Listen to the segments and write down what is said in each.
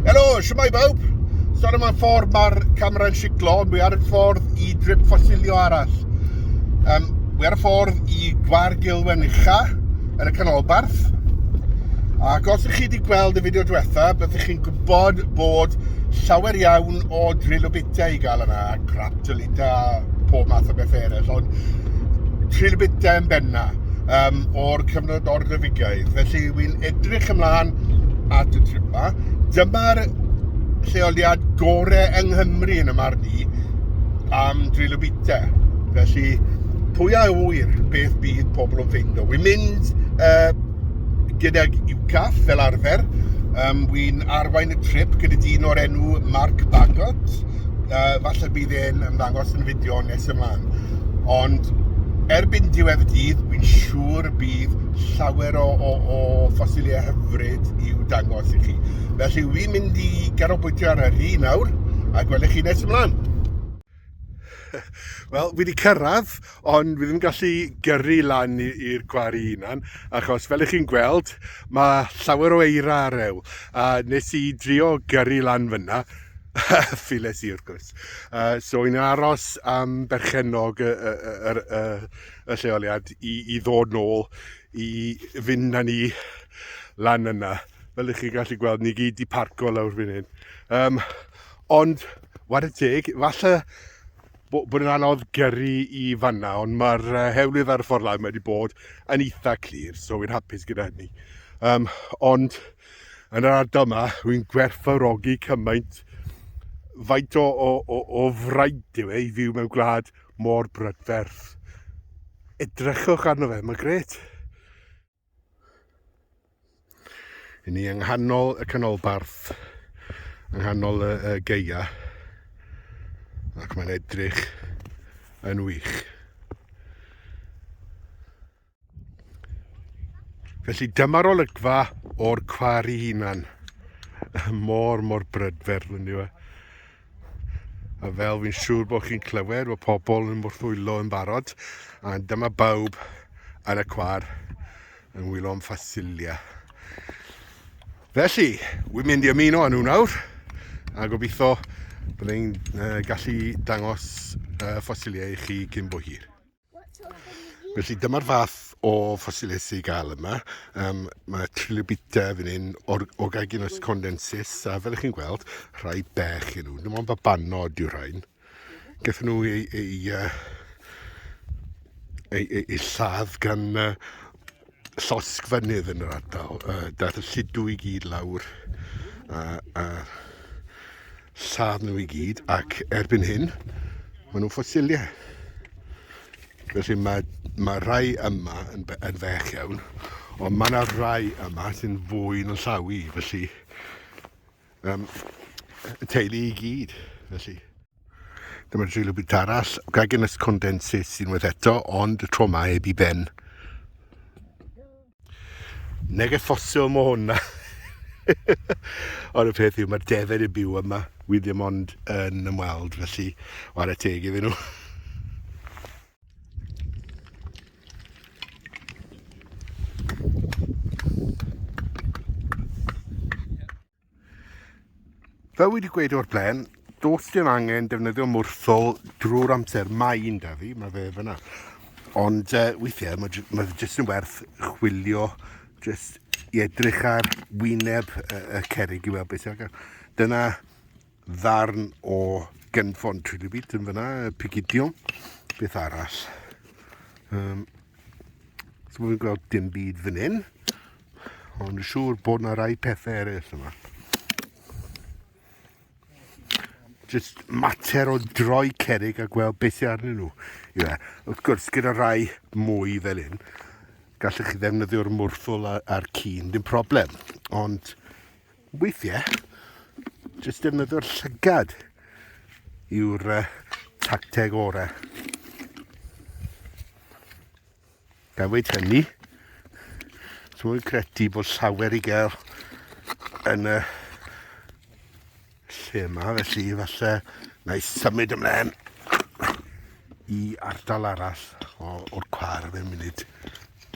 Helo, siwmai bawb. So ar yma ffordd mae'r camera'n siglo, ond mae ar y ffordd i drip ffosilio arall. Um, mae ar y ffordd i Gwar Gilwen Ucha, yn y canolbarth. Ac os ydych chi wedi gweld y fideo diwetha, byddwch chi'n gwybod bod llawer iawn o drill o bitiau i gael yna, a crap. dylid a pob math o bethau eraill, ond trilbitau yn benna um, o'r cyfnod o'r Rhyfigaeth. Felly, wy'n edrych ymlaen at y trip yma. Dyma'r lleoliad gorau yng Nghymru yn y marn i am drilobitau. Felly, pwy a wyr beth bydd pobl yn ffeindo. Wy'n mynd uh, gydag UCAF fel arfer. Um, Wy'n arwain y trip gyda dyn o'r enw Mark Bagot. uh, falle bydd e'n ymddangos yn fideo nes ymlaen. Ond erbyn diwedd y dydd, fi'n siŵr bydd llawer o, o, o ffosiliau hyfryd i'w dangos i chi. Felly, fi'n mynd i garobwytio ar yr un nawr, a gwelwch chi nes ymlaen. Wel, fi wedi cyrraedd, ond fi ddim gallu gyrru lan i'r gwari unan, achos fel ych chi'n gweld, mae llawer o eira ar ew. A nes i drio gyrru lan fyna, Files i wrth gwrs. Uh, so yn aros am berchenog y, y, y, y, y lleoliad i, i ddod nôl i fynd na ni lan yna. Fel ych chi'n gallu gweld, ni gyd i parco lawr fan hyn. Um, ond, war y teg, falle bod yn anodd gyrru i fanna, ond mae'r uh, hewlydd ar y ffordd lawr wedi bod yn eitha clir, so wy'n hapus gyda hynny. Um, ond, Yn yr ardal yma, rwy'n gwerthfawrogi cymaint faint o, o, o, o fraint yw e i fyw mewn gwlad mor brydferth. Edrychwch arno fe, mae'n gret. Yn ni yng nghanol y canolbarth, yng nghanol y, y geia, ac mae'n edrych yn wych. Felly dyma'r olygfa o'r cwar i hunan. Mor, mor brydferth yn yw e. A fel fi'n siŵr bod chi'n clywed bod pobl yn mwrthwylo yn barod, a dyma bawb ar y cwar yn wylo am ffasilia. Felly, wy'n mynd i ymuno â nhw nawr, a gobeithio byddai'n gallu dangos ffasiliau i chi cyn bo hir. Felly dyma'r fath o ffosilau sy'n gael yma. Um, mae trilobita fan hyn, or Orgaginus condensis, a fel ych chi'n gweld, rhai bech yn nhw. Dim ond babanod yw'r rhain. Gathen nhw ei, ei, ei, ei, ei, ei lladd gan uh, llosg fynydd yn yr ardal. Uh, daeth y lludw i gyd lawr a, a lladd nhw i gyd ac erbyn hyn maen nhw'n ffosiliau. Felly mae, mae rhai yma yn, yn fech iawn, ond mae yna rhai yma sy'n fwy yn llaw i, felly Um, y teulu i gyd, felly. Dyma drilio byd arall, gagen ys condensus unwaith eto, ond y tro mae heb i ben. Neges ffosil mo hwnna. Ond y peth yw, mae'r defaid yn byw yma. Wi ddim ond yn ymweld, felly, o ar y teg iddyn nhw. Fel wedi gweud o'r blaen, dos dim angen defnyddio mwrthol drwy'r amser. Mae un da fi, mae fe fyna. Ond uh, weithiau mae, mae fe jyst yn werth chwilio, jyst i edrych ar wyneb y, y cerig i weld beth sy'n agor. Dyna ddarn o gynfon trilibit yn fyna, pigidion, beth arall. Um, so fi'n gweld dim byd fan hyn, ond siŵr bod na rai pethau eraill yma. Just mater o droi cerig a gweld beth sy'n arnyn nhw. Ie, wrth gwrs, gyda rai mwy fel hyn, gallwch chi ddefnyddio'r mwrthwl a'r cyn, dim problem. Ond Weithiau, jyst defnyddio'r llygad yw'r uh, tacteg orau. Gan wedi hynny, dwi'n credu bod llawer i gael yn y lle yma, felly falle na i symud ymlaen i ardal arall o'r cwar fe munud.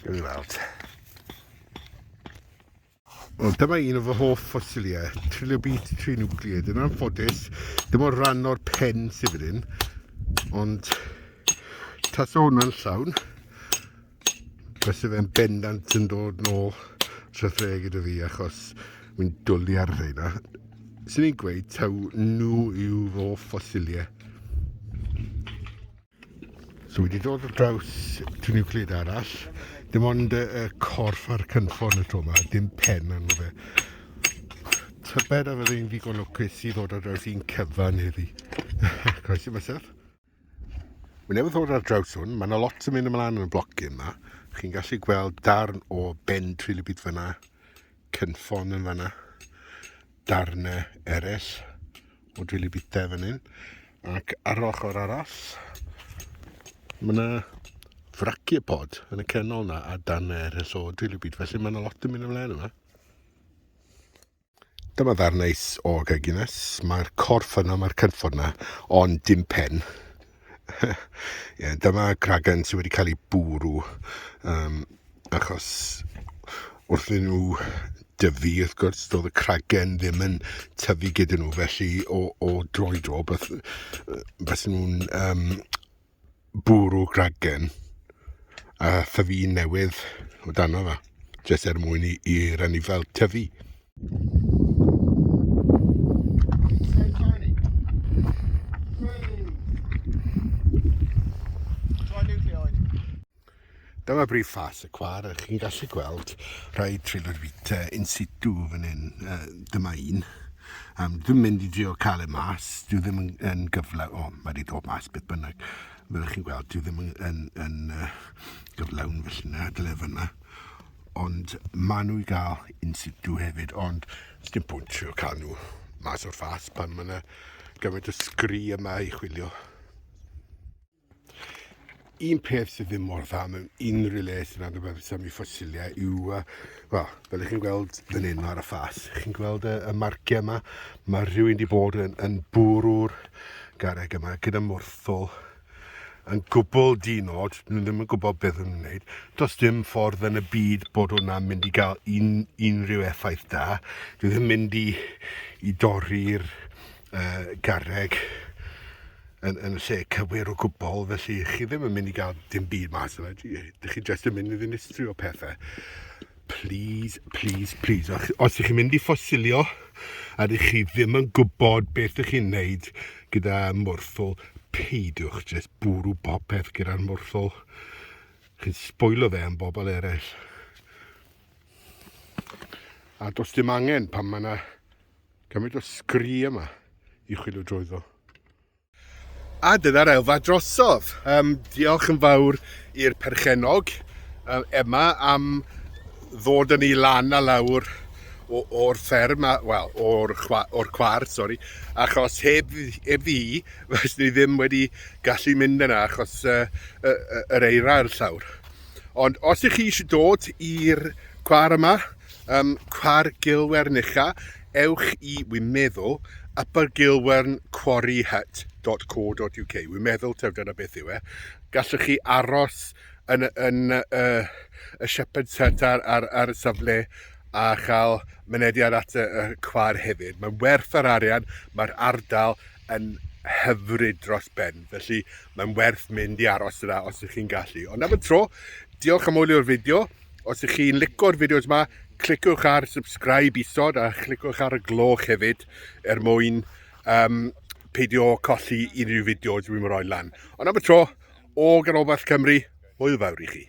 Gawn ni weld. Wel, dyma un o fy hoff ffosiliau, trilobite trinucleate. Yn anffodus, dim o'r rhan o'r pen sydd fan hyn, ond tas o hwnna'n llawn, bys y fe'n bendant yn dod nôl trethre gyda fi achos mi'n dwlu ar rheina. Swn i'n gweud taw nhw yw fy hoff ffosiliau. So wedi dod ar draws tŷ niwcleid arall, dim ond y, y corff a'r cynffon y to yma, dim pen arno fe. Tybed a fydde i'n ddigon lwcus i ddod ar draws un cyfan heddi. Croes i mysaf. Mae newydd ddod ar draws hwn, mae yna lot yn mynd ymlaen yn y bloc yma. Chi'n gallu gweld darn o ben trilibyd fyna, cynffon yn fyna. darnau eraill o dwili bita fan hyn. Ac ar yr ochr arall, mae yna fraciopod yn y canol yna a darnau eraill o dwili bit. Felly mae yna lot yn mynd ymlaen yma. Dyma ddarnau o gagines. Mae'r corff yna, mae'r cynffon yna, ond dim pen. Ie, dyma gragen sydd wedi cael ei bwrw, um, achos wrth i nhw dyfu, wrth gwrs, doedd y cragen ddim yn tyfu gyda nhw, felly o, o dro i dro, beth, beth nhw'n um, bwrw gragen a thyfu newydd o dano fe, jyst er mwyn i, i rannu fel tyfu. Dyma brif ffas y cwar, a chi'n gallu gweld rhai trilorfita in situ fan hyn. Uh, dyma un. Um, dwi'n mynd i drio cael e mas, dwi ddim yn, yn gyfle, o, oh, mae wedi dod mas beth bynnag. Fel chi'n gweld, dwi ddim yn, yn, yn uh, gyflawn felly na, dyle fyna. Ond ma' nhw i gael in situ hefyd, ond sdim pwynt trio cael nhw mas o'r ffas pan mae yna gymaint o sgri yma i chwilio. Un peth sydd ddim mor dda mewn unrhyw le sy'n nad rhywbeth sy'n mi ffosiliau yw, wel, fel ych chi'n gweld fan hyn ar y ffas, chi'n gweld y, y marciau yma, mae rhywun wedi bod yn, yn bwrw'r garreg yma gyda mwrthol yn gwbl di-nod, nhw ddim yn gwybod beth yn wneud. Does dim ffordd yn y byd bod hwnna'n mynd i gael un, unrhyw effaith da. Dwi ddim mynd i, i dorri'r uh, garreg yn, yn lle cywir o gwbl, felly chi ddim yn mynd i gael dim byd mas yna. Dych chi jyst yn mynd i ddinistrio pethau. Please, please, please. Os ych chi'n mynd i ffosilio a ydych chi ddim yn gwybod beth ych chi'n neud gyda morthol, peidiwch jyst bwrw popeth gyda'r morthol. Chi'n sbwylo fe am bobl eraill. A does dim angen pan mae yna gymaint o sgri yma i chwilio drwyddo. A dyna'r elfa drosodd. Um, diolch yn fawr i'r perchenog um, Emma am ddod yn ei lan a lawr o'r fferm, wel, o'r or cwar, sori, achos heb, heb ddi, fes ni ddim wedi gallu mynd yna achos uh, uh, uh, yr eira ar llawr. Ond os ych chi eisiau dod i'r cwar yma, um, cwar Gilwernicha, ewch i, wi'n meddwl, Upper Gilwern Quarry Hut dot co dot UK, wi'n meddwl taw dyna beth yw e. Gallwch chi aros yn, yn uh, y Shepherd's Hut ar, ar, ar y safle a chael mynediad at y, y cwar hefyd. Mae'n werth yr arian, mae'r ardal yn hyfryd dros ben, felly mae'n werth mynd i aros yna os ydych chi'n gallu. Ond am y tro, diolch am wylio'r fideo. Os ych chi'n licio'r fideos yma, cliciwch ar subscribe isod a chlicwch ar y gloch hefyd er mwyn um, peidio colli unrhyw fideos dwi'n rhoi lan. Ond am y tro, o Ganolbarth Cymru, hwyl fawr i chi.